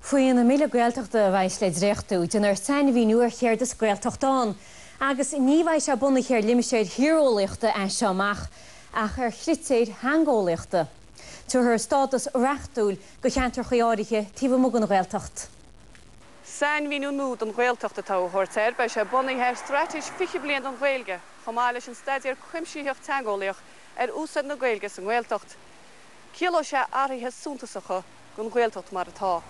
Faoin mBille Gaeltachta a bheidh le dréachtú, déanfar sainmhíniú ar céard is 'Gaeltacht' ann agus ní bheidh sé bunaithe ar limistéir thíreolaíochta as seo amach ach ar chritéir theangeolaíochta. Tabharfar stádas reachtúil do cheantracha áirithe taobh amuigh den Ghaeltacht. Sainmhíniú nua don Ghaeltacht atá á thabhairt air. Beidh sé bunaithe ar Straitéis 20 Bliain don Ghaeilge chomh maith leis an Staidéar Cuimsitheach Teangeolaíoch ar Úsáid na Gaeilge sa nGaeltacht. Ciallóidh sé athruithe suntasacha. don Ghaeltacht mar atá.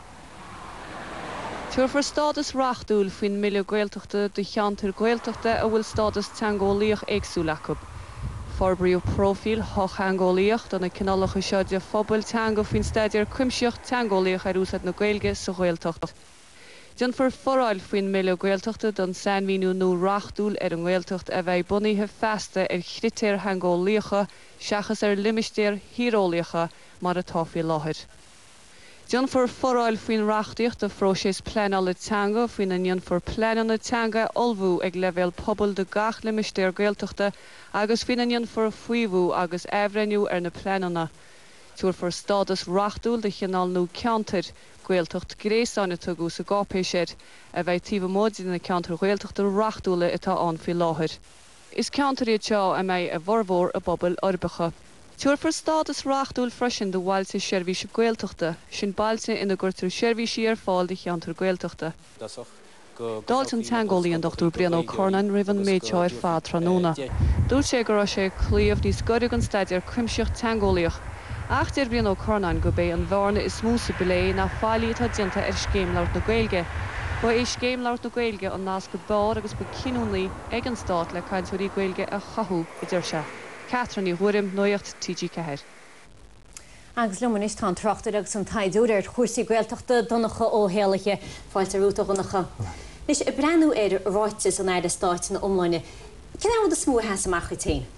Tabharfar stádas reachtúil faoin mBille Gaeltachta do cheantair Ghaeltachta a bhfuil stádas teangeolaíoch éagsúil acu. Forbraíodh próifíl shochtheangeolaíoch do na cineálacha seo de phobail teanga faoin Staidéar Cuimsitheach Teangeolaíoch ar Úsáid na Gaeilge sa Ghaeltacht. Déanfar foráil faoin mBille Gaeltachta don sainmhíniú nua reachtúil ar an nGaeltacht a bheidh bunaithe feasta ar chritéir theangeolaíocha seachas ar limistéir thíreolaíocha mar atá faoi láthair. Déanfar foráil faoin reachtaíocht do phróiseas pleanála teanga faoina ndéanfar pleananna teanga a ullmhú ag leibhéal pobail do gach limistéar Gaeltachta agus faoina ndéanfar faomhú agus athbhreithniú ar na pleananna. Tabharfar stádas reachtúil do chineál nua ceantair, 'Gaeltacht gréasáin' a tugadh sa gcáipéis air, a bheidh taobh amuigh de na ceantair Ghaeltachta reachtúla atá ann faoi láthair. Is ceantair iad seo a mbeidh a bhformhór i bpobail uirbeacha. Tabharfar stádas reachtúil freisin do Bhailte Seirbhíse Gaeltachta, sin bailte ina gcuirtear seirbhísí ar fáil do cheantar Gaeltachta. D'fháiltigh an teangeolaí an Dr Brian Ó Curnáin roimh an méid seo ar fad tráthnóna. Dúirt sé go raibh sé ag cloí níos gaire den staidéar cuimsitheach teangeolaíoch. Ach deir Brian Ó Curnáin gurb é an bhearna is mó sa bplé ná faillí atá déanta ar Scéim Labhairt na Gaeilge. Ba é Scéim Labhairt na Gaeilge an nasc ab fhearr agus ba ciniúnaí, ag an Stát le cainteoirí Gaeilge a chothú, a deir sé. Catherine Ní Ghuairim, Nuacht TG4. Agus liom anois tá an tráchtaire agus an taighdeoir ar chúrsaí Gaeltachta, Donncha Ó hÉallaithe. Fáilte romhat, a Dhonncha. Anois, ag breathnú ar ráiteas an Aire Stáit ina iomláine, cén rud is mó a sheas amach duit féin?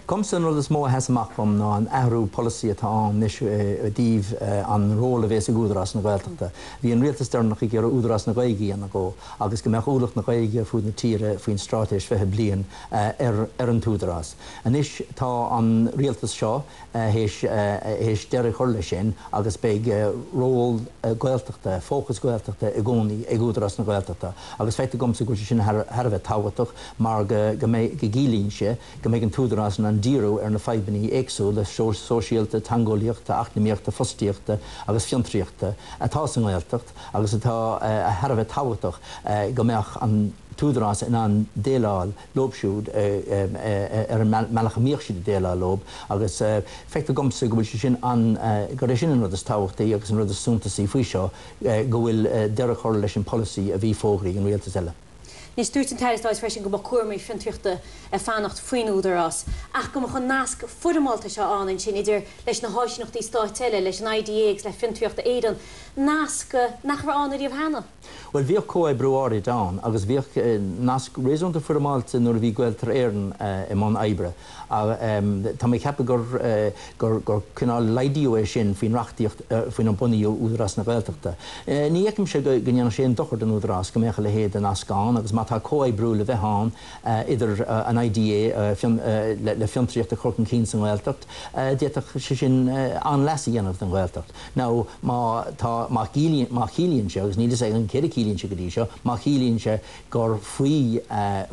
Dhomsa an rud is mó a sheas amach dom ná an athrú polasaí atá ann anois i dtaobh an ról a bhéas ag Údarás na Gaeltachta. Bhí an rialtas deireanach ag iarraidh Údarás na Gaeilge a dhéanamh dhó agus go mbeadh ualach na Gaeilge ar fud na tíre faoin Straitéis Fiche Bliain ar an t-Údarás. Anois tá an rialtas seo théis deireadh chur le sin agus beidh ról Gaeltachta, fócas Gaeltachta i gcónaí ag Údarás na Gaeltachta agus feictear dhomsa go bhfuil sé sin thar a bheith tábhachtach. mar go gciallaíonn sé go mbeidh an tÚdarás in ann díriú ar na fadhbanna éagsúla sóisialta, teangeolaíochta, eacnamaíochta, fostaíochta agus fiontraíochta atá sa nGaeltacht agus atá thar a bheith tábhachtach go mbeadh an tÚdarás in ann déileáil leo siúd ar an mbealach a mbíodh siad ag déileáil leo agus feictear domsa go bhfuil sé sin an, gurb é sin an rud is tábhachtaí agus an rud is suntasaí faoi seo go bhfuil deireadh curtha leis an polasaí a bhí fógraithe ag an Rialtas eile. Anois, dúirt an tAire Stáit freisin go mbeadh cúramaí fiontraíochta ag fanacht faoin Údarás, ach go mbeadh an nasc foirmeálta seo ann ansin idir leis na háisíneachtaí stáit eile, leis an IDA agus le Fiontraíocht Éireann, nasc nach raibh ann ariamh cheana. Bhuel, bhíodh comhoibriú áirid ann agus bhíodh nasc réasúnta foirmeálta nuair a bhí Gaeltarra Éireann i mbun oibre. Ach tá mé ag ceapadh gur cineál laghdaíodh é sin faoin reachtaíocht faoinar bunaíodh Údarás na Gaeltachta. Ní fheicimse go ndéanfadh sé aon dochar don Údarás go mbeadh a leithéid de nasc ann agus má tá comhoibriú le bheith ann idir an IDA le fiontraíocht a chur chun cinn sa nGaeltacht d'fhéadfadh sé sin an-leas a dhéanamh don Ghaeltacht. Nó má tá, má chiallaíonn sé, agus níl fhios agam céard a chiallaíonn sé go dtí seo, má chiallaíonn sé, gur faoi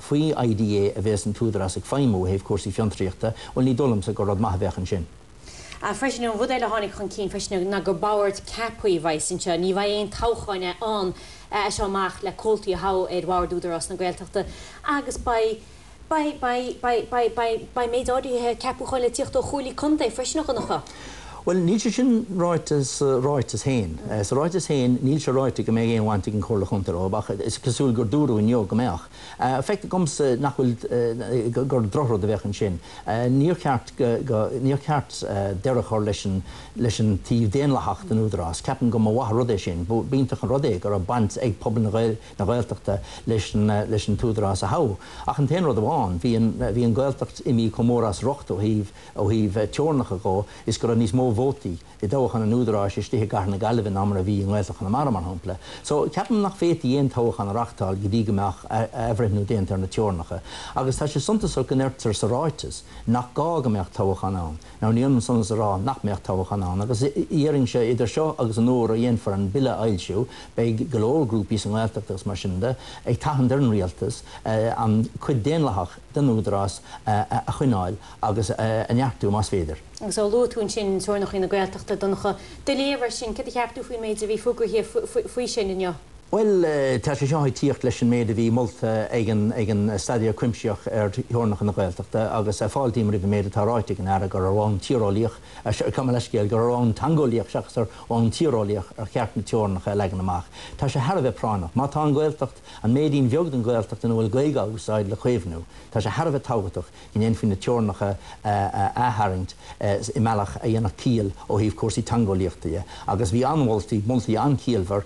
faoi IDA a bhéas an tÚdarás ag feidhmiú ó thaobh cúrsaí fiontraíochta, bhuel ní dóigh liomsa gur rud maith a bheadh ansin. Ach freisin, an rud eile a tháinig chun cinn freisin ná gur bord ceaptha a bheas anseo. Ní bheidh aon toghcháin ann as seo amach le comhaltaí a thoghadh ar Bhord Údarás na Gaeltachta agus beidh, Beidh méid áirithe ceapúcháin le tíocht ó Chomhairlí Contae freisin, a Dhonncha. Bhuel, níl sé sin ráite sa ráiteas féin. Sa ráiteas féin, níl sé ráite go mbeidh aon bhaint ag an Chomhairle Chontae leo, ach is cosúil gur dúradh inniu go mbeadh. Feictear domsa nach bhfuil, gur drochrud a bheadh ansin. Níor cheart, níor cheart deireadh a chur leis an taobh daonlathach den Údarás. Ceapaim go mba mhaith an rud é sin. B'iontach an rud é go raibh baint ag pobal na. na Gaeltachta leis an tÚdarás a thoghadh. Ach an t-aon rud amháin, bhí an Ghaeltacht imithe chomh mór as riocht ó thaobh teorannacha de is go raibh níos mó vótaí i dtoghchán an Údaráis istigh i gcathair na Gaillimhe ná mar a bhí i nGaeltacht Chonamara, mar shampla. So, ceapaim nach bhféadfaí aon toghchán a reachtáil go dtí go mbeadh athbhreithniú déanta ar na teorannacha. Agus tá sé suntasach go ndeirtear sa ráiteas nach gá go mbeadh toghchán ann. Now ní hionann sin is a rá nach mbeadh toghchán ann agus déarfainnse, idir seo agus an uair a dhéanfar an Bille a fhoilsiú beidh go leor grúpaí sa nGaeltacht agus mar sin de ag tathant ar an Rialtas an cuid daonlathach den Údarás a choinneáil agus a neartú más féidir. Agus luaigh tú ansin, teorainneacha na Gaeltachta, Donncha, do léamh ar sin, céard a cheap tú faoin méid a bhí fógraithe faoi sin inniu? Bhuel, tá sé seo ag tíocht leis an méid a bhí molta ag an Staidéar Cuimsitheach ar Theorannacha na Gaeltachta agus fáiltím roimh an méid atá ráite ag an Aire gur ar bhonn tíreolaíoch, gabh mo leithscéal, gur ar bhonn teangeolaíoch seachas ar bhonn tíreolaíoch ar cheart na teorannacha a leagan amach. Tá sé thar a bheith práinneach. Má tá an Ghaeltacht, an méidín bheag den Ghaeltacht ina bhfuil Gaeilge á úsáid, le caomhnú, tá sé thar a bheith tábhachtach go ndéanfaí na teorannacha a ath-tharraingt i mbealach a dhéanfadh ciall ó thaobh cúrsaí teangeolaíochta de. Agus bhí an-mholtaí, moltaí an-chiallmhar,